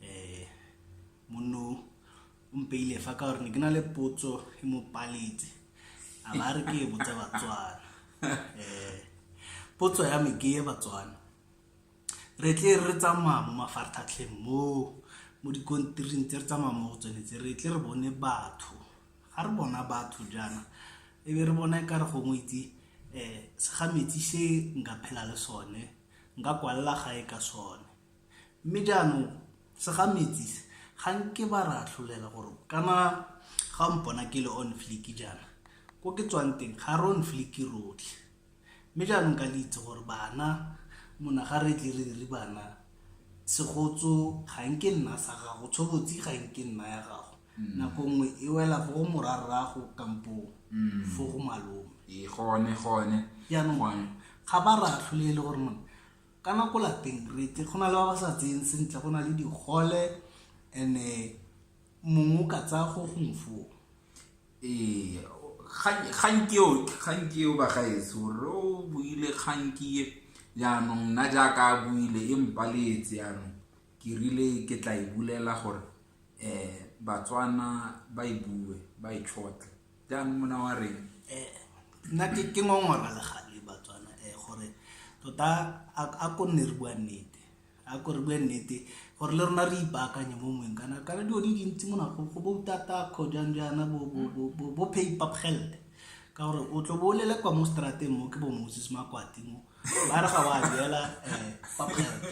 eh monno o mpeile fa ka gore ne ke na le potso e mo paletse a ba re ke e botse batswana eh potso ya me ke e batswana re tle re tsamaya mo mafarthatlheng mo mo dikontiring tse re tsamaya mo go tsone tse re tle re bone batho ga re bona batho jaana e be re bona e ka re gongwe itse um segametsi se nka phela le sone nka kwalela gae ka sone Mme jaanong segametsi se ga nke ba re atlholela gore kana ga o mpona ke le on fleek jaana ko ke tswang teng ga re on fleek rotlhe mme jaanong ka le itse gore bana mona ga re tle re re bana segotso ga nke nna sa gago tshobotsi ga nke nna ya gago mm. nako nngwe e wela fo go morarrago kampo mm. fo go malome ee, gone gone jaanong ga ba re atlholele gore mone ka nako lapeng rete go na le ba ba sa tseyeng sentle go na le digole and-e eh, mongwe o ka tsaya go gongwe foo ee kganki eo kganki eo bagaetso re o buile kganki e jaanong nna jaaka a buile e mpaletse jaanong ke rile ke tla e bulela gore um batswana ba e bue ba e tshotle jang mona wa reng eh, nna ke ngongora legale batswana um gore tota a ko nne re bua nnete a ko re bue nnete gore le rona re ipaakanye mo mongweng kana kana dilo di dintsi mona go boutata kgo jang jaana bo pay papgelde ka gore o tlo bo o lele kwa mo strateng mo ke bo moses makwati mo ba re ga wa duela eh, papgerte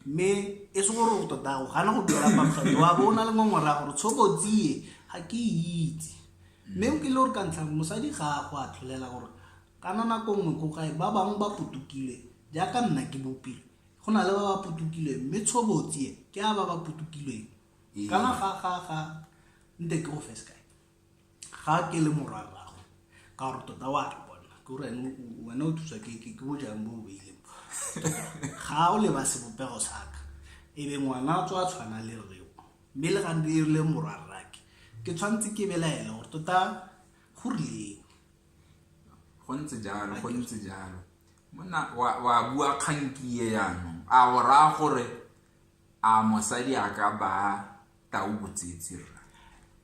mme e se gore o tota o gana go duela papgerte wa bo o na le ngongora gore tshobotsie ga ke itse mme o kile gore ka ntlha mosadi ga a go a tlholela gore kana nako nngwe ko gae ba bangwe ba putukile jaaka nna ke bopile go na le ba ba putukileng mme tshobotsie ke a ba ba putukileng ee. kana ga ga ga nte ke go fes kae ga ke le morwa rrago ka gore tota wa re bona ke gore wena o thusa ke ke ke bojang bo beileng ga o leba sebopego saka e be ngwana tswa tshwana le reo mme le gante e le morwa rrake ke tshwanetse ke belaela gore tota go rileng go ntse jalo go ntse jalo monna wa bua kgankie yanong a go raya gore A mosadi a ka baa tau botsetsi, rra?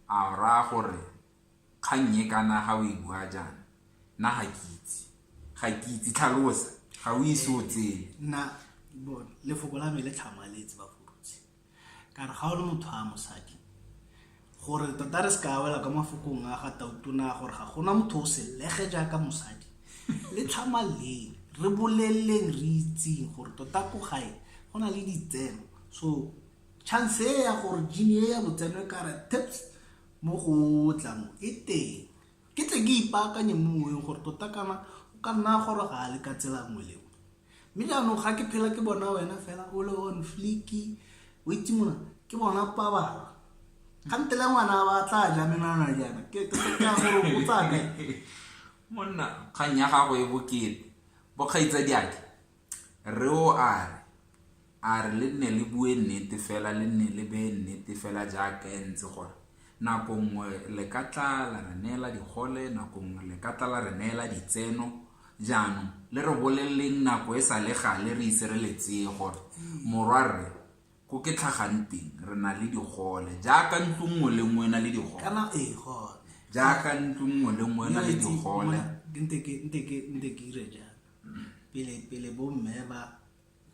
A o raya gore kgang e kana ga o e bua jaana? Nna ga ke itse. Ga ke itse. Tlhalosa. Ga o ise o tsene. Nna, lefoko la me le tlhamaletse, Bafolosi. Ka re, Ga o le motho a mosadi. gore tota re se ka wela ka mafokong a ga tautona gore ga gona motho o selege jaaka mosadi le tlhama leng re boleleleng re itseng gore tota ko gae go na le ditseno so chance e ya gore jini e ya botseno e kare tips mo go tlamo e teng ke tle ke ipaakanye mo moweng gore tota kana o ka nna gore ga a le ka tsela nngwe leo mme jaanong ga ke phela ke bona wena fela o le on fliki o itse mona ke bona pabala ga nte le ngwana ba tla ja menwana jaana ke ka gore o tsa kae monna kgang ya gago e bokete bokgaitsa diake re o a re A re le nne le bue nnete fela, le nne le bee nnete fela jaaka e ntse gore, Nako nngwe le ka tla la re neela digole, nako nngwe le ka tla la re neela ditseno. Jaanong, le re boleleleng nako e sa le gale re ise re le tseye gore, Morwarre, ko ke tlhagang teng, re na le digole. Jaaka ntlo nngwe le nngwe e na le digole. Kana, ee, gone. Jaaka ntlo nngwe le nngwe e na le digole. Nte ke dire jang pele bomme ba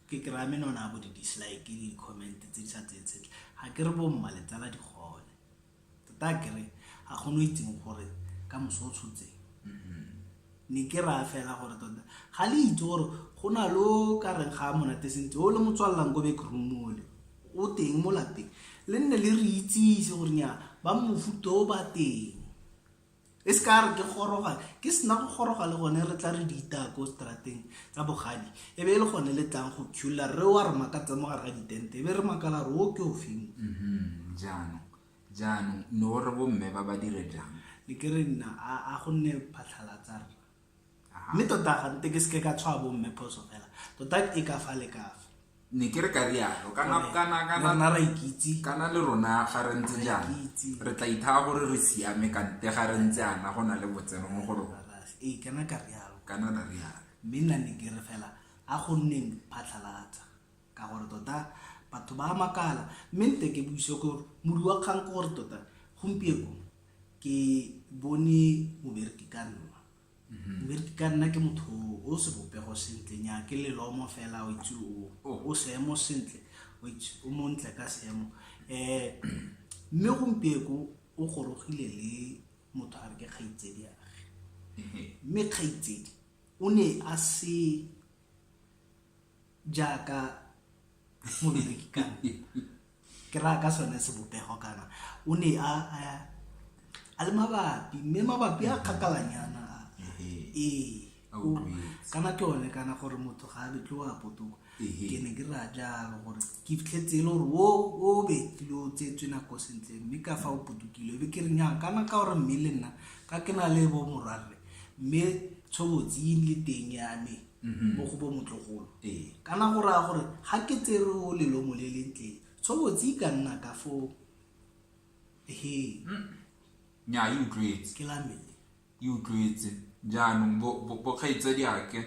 ke kry-a menona bo di-dislike le di-comment tse di sa tseye tshetle ga ke re bomma letsala di gone tota kere ga kgone o itseng gore ka moso o tshotseng ne ke raya fela gore tota ga le itse gore go na lo ka reng ga monate sentse o le motswalelang ko bekromole o teng mo lapeng le nne le re itsise gore nya ba mofuto o ba teng e se ka re ke goroga ke sena go goroga le gone re tla re di itaya ko strateng tsa bogadi e be e le gone le tlang go khula re wa re makatsa mo gare ga ditente e be re makala re o ke o feng mm-hmm. jaanong jaanong ne o re bomme ba ba dire jang le ke re nna a gonne phatlhalatsa rra mme tota gante ke seke ka tshwa bomme phoso fela tota e ka fa le kafa ne ke re ka rialo kana ra ikitse kana le rona ga re ntse jang re tla ithaa gore re siame kante ga re ntse ana go na le botseno mo go rona ee kana ka rialo kana ra rialo mme nna ne ke re fela a go nneng phatlhalatsa Ka gore tota batho ba a makala, mme nte ke buise gore modi wa kgang ke gore tota gompieko ke bone mobereki ka nna Mhm. mme re ka nna ke motho o sebopego sentle nya ke lelomo fela o itse o- Oh. o seemo sentle o itse o montle ka seemo um mme gompieko o gorogile le motho a re ke kgaitsedi age Ehe. mme kgaitsedi o ne a se jaaka mobereki kana ke raya ka sone sebopego kana o ne a a le mabapi mme mabapi a kgakalanyana ee kana ke one kana gore motho ga a betlwe wa potoko ke ne ke raya jalo gore ke fitlhetse e le gore o o betlile o tsetswe nako sentle mme ka fa o potokile be ke re nyang kana ka gore mme le nna ka ke na le bo morwarre mme tshobotsi le teng ya me mhm. mo go bo motlogolo kana go raya gore ga ke tsere o lelomo le leng tleng tshobotsi e ka nna ka foo he mm. nya e utlwetse ke lamele e utlwetse jaanong bokgaitsadi ake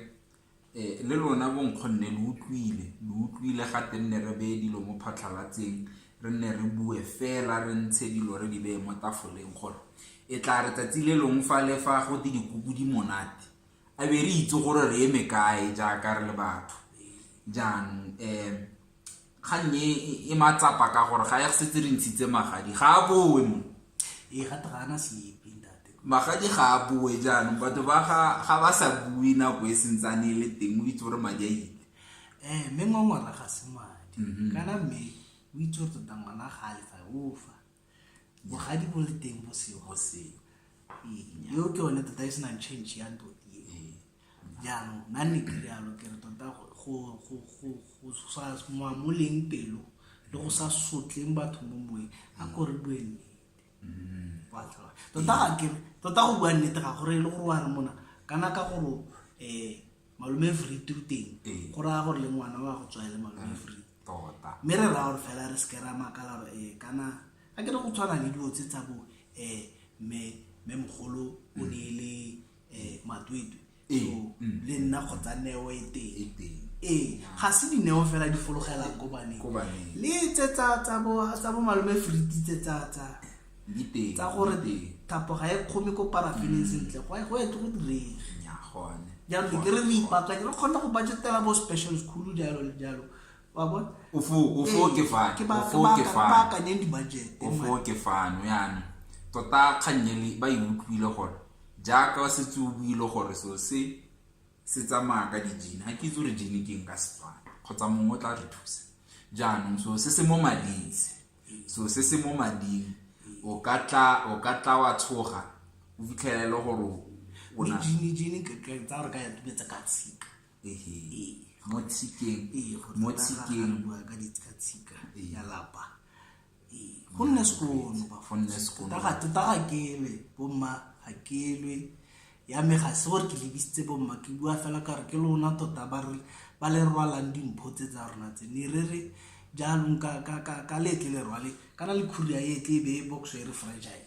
eh, le lona bonkgonne lo utlwile lo utlwile ga te nne re beye dilo mo phatlhalatseng re nne re bue fela re ntshe dilo re di beye mo tafoleng gore e tla re tsatsi le longwe fa le fa go te dikuku di monate a be re itse gore re eme kae jaaka re le batho jaanong um kgang e e matsapa ka gore ga ya setse re ntshitse magadi ga a boe mo ee gate ga ana sepe ntate magadi ga a boe jaanong batho ba ga ba sa bue nako e sentsane e le teng o itse gore madi a ile um mme ngwangwara ga se madi mhm. kana mme o itse gore tota ngwana ga a lefa ofa bogadi bo le teng bo seo go seo eo ke one tota e senang change ya nto ee jaanong nna ne ke jalo ke re tota go sa moamoleng pelo le go sa sotleng batho mo moeng a kore bue nnete mm. tota ga kere tota go bua nnete ga gore e le gore wa re mona kana ka gore um malome free to teng ee. go raya gore le ngwana wa go tswa e le malome free mm, tota mme re raya gore fela re seke ra makala gore ee kana a ke re go tshwana le dilo tse tsa bo um mme mme mogolo o ne e le um matwetwe ee, so mm. le nna kgotsa neo e teng e teng ee ga se dineo fela di fologelang ko baneng Ko baneng. le tse tsa tsa bo tsa bo malome friti tse tsa tsa tsa gore thapo ga e kgome ko parafineng mm. sentle go go tle go direge jaanong ke re re ipaakanye re kgone go budgetela bo special school jalo le jalo wa bona baakanyeng di-budget ofo ke fano yana tota kgannyele ba e utlwile gore jaaka wa setse o buile gore so se se tsamaya ka dijene ga ke itse gore jene ke eng ka setswana kgotsa mongwe o tla re thusa jaanong so se se mo madise so se se mo mading o ka tla o ka tla wa tshoga o fitlhela e le gore o na jini jini ke ke tsa re ka ya tubetsa ka tshika ehe mo tshikeng ee mo tshikeng bua ka di ka tshika ya lapa ee go nne sekono ba go nne sekono tota ga tota ga kele bomma ga kelwe ya me ga se gore ke lebisitse bomma ke bua fela ka gore ke lona tota ba le rwalang dimpho tse tsa rona tse ne re re jaanong ka letle le rwale kana le khuria e tle e be e boxo e re fragile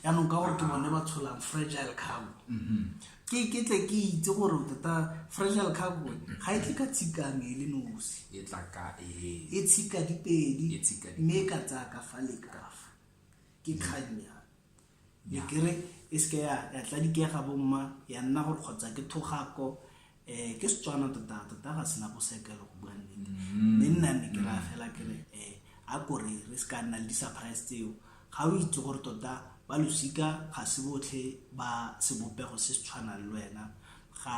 jaanong ka gore ke bone ba tsholang fragile cargo mm-hmm. ke ke tle ke itse gore tota fragile cargo ga e tle ka tshikang e le nosi e, e tshika dipedi e mme e ka tsaya ka fa le kafa ke kganya ya kere e seke ya ya tla dikega bomma ya nna gore kgotsa ke thogako um ke setswana tota tota ga sena bosekelo go bua nnete mm-hmm. mme nna ne ke raya fela kere um a kore re se ka nna le di-surprise tseo ga o itse gore tota ba losika ga se botlhe ba sebopego se se tshwanang le wena ga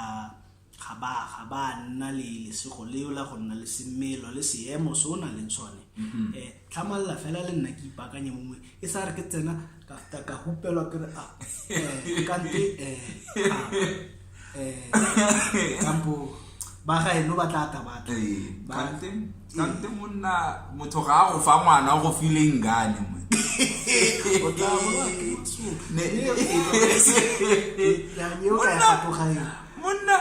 Ga ba a, ga ba a nna le lesego leo la go nna le semelo le seemo se o nang le sone. um Tlhamalela fela le nna ke ipaakanye mongwe e sa re ke tsena ka feta ka hupelwa ke re a um kante um um kampo ba gaeno ba tla ta batla Ee, ba- kante sante monna motho ga a go fa ngwana o go file ngane mo monna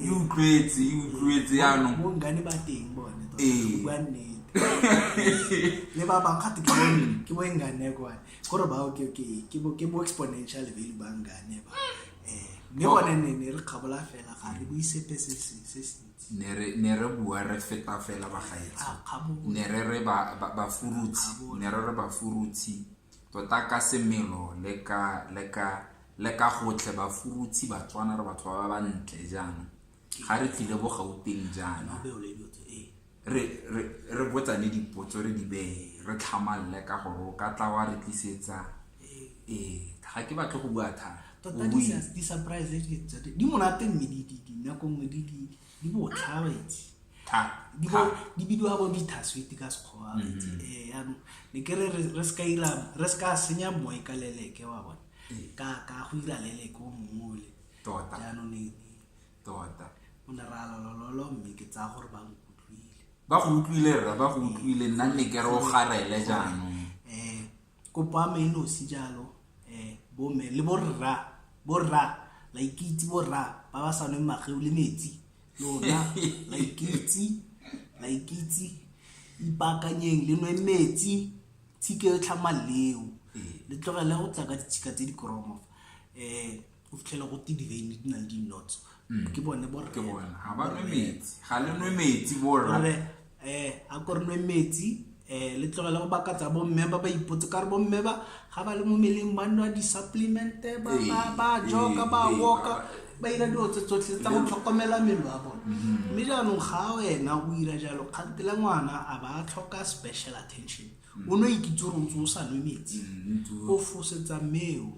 e utlwetse e utlwetse yaanong ee. le ba bang gate ke ke bo engane kwa gore ba o ke ke ke bo ke bo exponential value ba ngane ba eh mme bona ne ne re kgabola fela ga re buise pese se se ne re bua re feta fela bagaetsi ne re re bafurutsi ne re re bafurutsi tota ka semelo le ka le ka le ka gotlhe bafurutsi batswana re batho ba ba ntle jaana ga re tlile bo gauteng jaana re re re botsane dipotso re di beye re tlhamalele ka gore o ka tla wa re tlisetsa ee ga ke batle go bua thata tota di-surprise di monate mme dinako nngwe di botlhaba itse di bidiwa bo dithaswete ka sekgowa mm-hmm. itse ee yaanong ne ke re re se ka senya moe ka leleke wa bone ee. ka go ira leleke o mongole tota. jaanong e- tota o ne ra lolololo mme ke tsaya gore ba nkutlwile ba go utlwile rra ba go utlwile nna nne ke re o garele jaanong Kopo ya me e nosi jalo um bomme le borra borra la ikitse borra ba ba sa nweng mageu le metsi lona la ikitse la ikitse ipaakanyeng le nwe metsi tshike e tlhama leo le tlogele go tla ka ditshika tse di koromo um o fitlhela go te diveine di na le di-nots mm. ke bone borre ga le nwe metsi borre um a ko re nwe metsi um le tlogele go baka tsa bomme ba ba ipotse ka re bomme ba ga ba le mo meleng ba nwa di-supplemente ba ee, joka ba ee, woka ba ira dilo tse tsotlhe tsa go tlhokomela melo a bone mm-hmm. mme jaanong ga wena o ira jalo kgantele ngwana a ba tlhoka special attention o no ikitse gore ntse o sa nwe metsi o fosetsa mmeo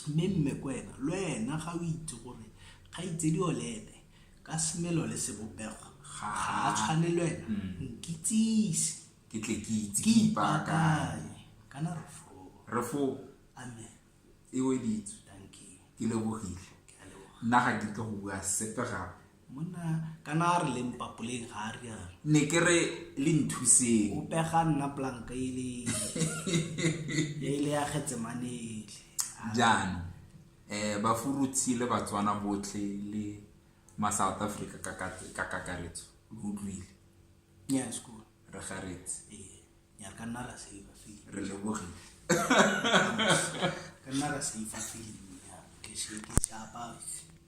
mme mme kwena le wena ga o itse gore ga itsedi o le ene ka semelo le sebopego ga a tshwane le wena nkitsise ke tle ke itse ke ipakanye kana re fo re fo amen e weditswe ke lebogile nna ga ke tle go bua sepe gape monna kana a re leng papoleng ga a rialo ne ke re le nthuseng o pega nna planka e le e le ya getsemanele jaanong um bafuruthi le batswana botlhe le ma south africa ka kakaretso lo utlwile re garetse ee, re lebogile